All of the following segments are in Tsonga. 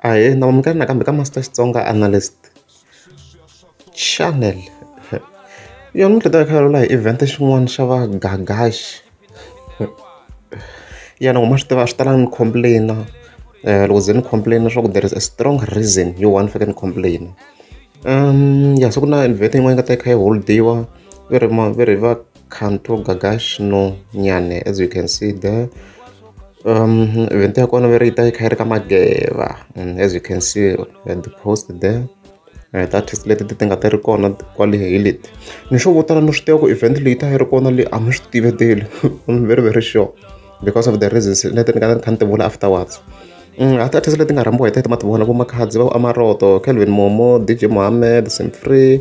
Ahee ni amukela nakambe ka Master Xitsonga Analyst Channel yona mintlhontlho ya vulavula hi event xin'wana xa va Gagax ya ni ku ma swi tiva a swi talanga ni complain loko ze ni complain swa ku there is a strong reason yo why ni fanekele ni complain ya se ku na event yin'wana yi nga ta yi kha yi hold-iwa va ri va ri va. Kanto Gagash no Nyane as you can see there um event ya kona veri ta yi kha yi ri ka mageva and as you can see at the post there uh, that is leti ti nga ti ri kona kwale hi leti ni swo vo tala ni swi tiva ku event leyi ta yi ri kona leyi a mi swi tiveteli i'm very very sure because of the reasons leti ni nga ni kha ni ti vula afterwards mm, that is leti nga rhambiwa hi tete ma ti vona vo makhadzi va amaroto calvin momo dj mohammed simfree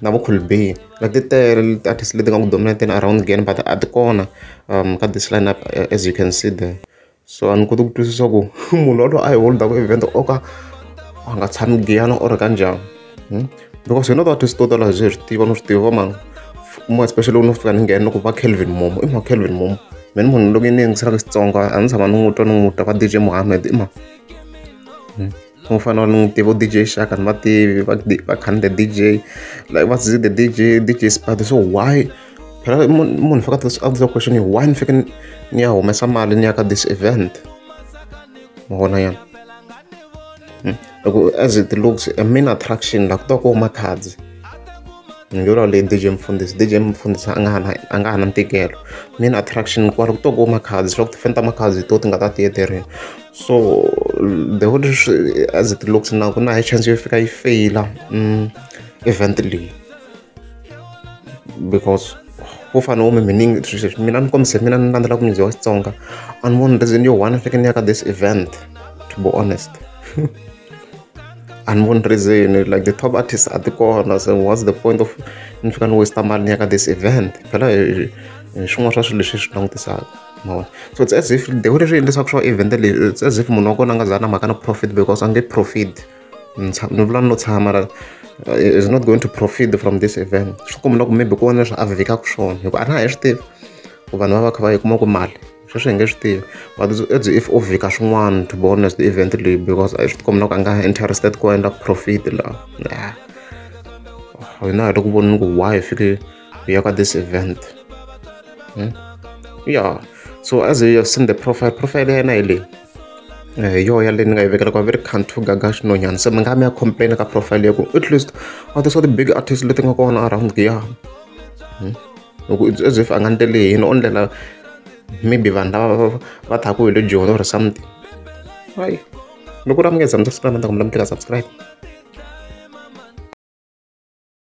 na vukhulubini na ti tele ti-artist leti nga ku dominate-eni around Giyani but a ti kona ka this line up as you can see there so a ni koti ku twisisa ku munhu walowo a hi holdaku event o ka a nga tshami Giyani or ka njhani hmm? because hina ti-artist to tala hi swi tiva no swi tiva va mani mo especially loko no fika ni nghena loko va Kelvin Momo i ma Kelvin Momo mina munhu loko ni yingiselaka Xitsonga a ni tshama ni n'wi twa ni n'wi twa va DJ Mohammed i ma hmm? Ku fana ni n'wi tiva D_J Shaka ni va tivi va va khani the D_J like va Zeze the D_J, D_J Sphado so why phela munhu munhu u fanekele a vutisa question yo why ni fanekele ni ni ya humesa mali ni ya ka this event ma vona ya hi ku as it looks a main attraction laha ku ta ku huma Khadzi hi ngo lawa leyi D_J Mfundisi D_J Mfundisi a nga ha na a nga ha na ntikelo main attraction kwala ku to ku huma Khadzi swa ku tifana ta Makhadzi hi to ti nga ta ti ethleriwa. so the whole as it looks now ku na high chance yo fika yi feyila mm, event leyi because wo fana wo miminingi swilo leswi mina ni kombise mina ni landzela ku music wa xitsonga a ni voni reason yo one fike ni ya ka this event to be honest and one reason like the top artists at the corner so what's the point of ni fika ni waste mali ni ya ka this event phela hi swin'wana swa swilo leswi hi swi langutisaka mavona so it's as if the way leswi endlisaka swa event leyi it's as if munhu wa kona a nga za na mhaka na profit because a nge profit ni vula ni lo tshama la eh, is not going to profit from this event swi kumula ku maybe ku vona leswi a vhikaka swona hikuva a na ha yi swi tivi ku vanhu va va kha va yi kuma ku mali sweswi hi nge swi tivi but as if u vhika swin'wana to be honest event leyi because a swi tikombi loko a nga interested ku endla profit laha hina hi ri ku vonini ku why hi fike We are at this event. Hmm? Yeah. So as you have seen the profile, profile ya yena hi leyi. Eh, yo yaleyo ni nga yi vekela ku va ve ri country gaga xinonyana se mi nga mi ya complain ka profile ya ku at least a ti swa ti-big artist leti nga kona around giya hmm? loko it's as if a nga ni tele yini o ndlela maybe vanhu lava va thaka hi le joni or something hayi loko ri amukeza mi ta siku lama ni ta ku mi lamukela subscribe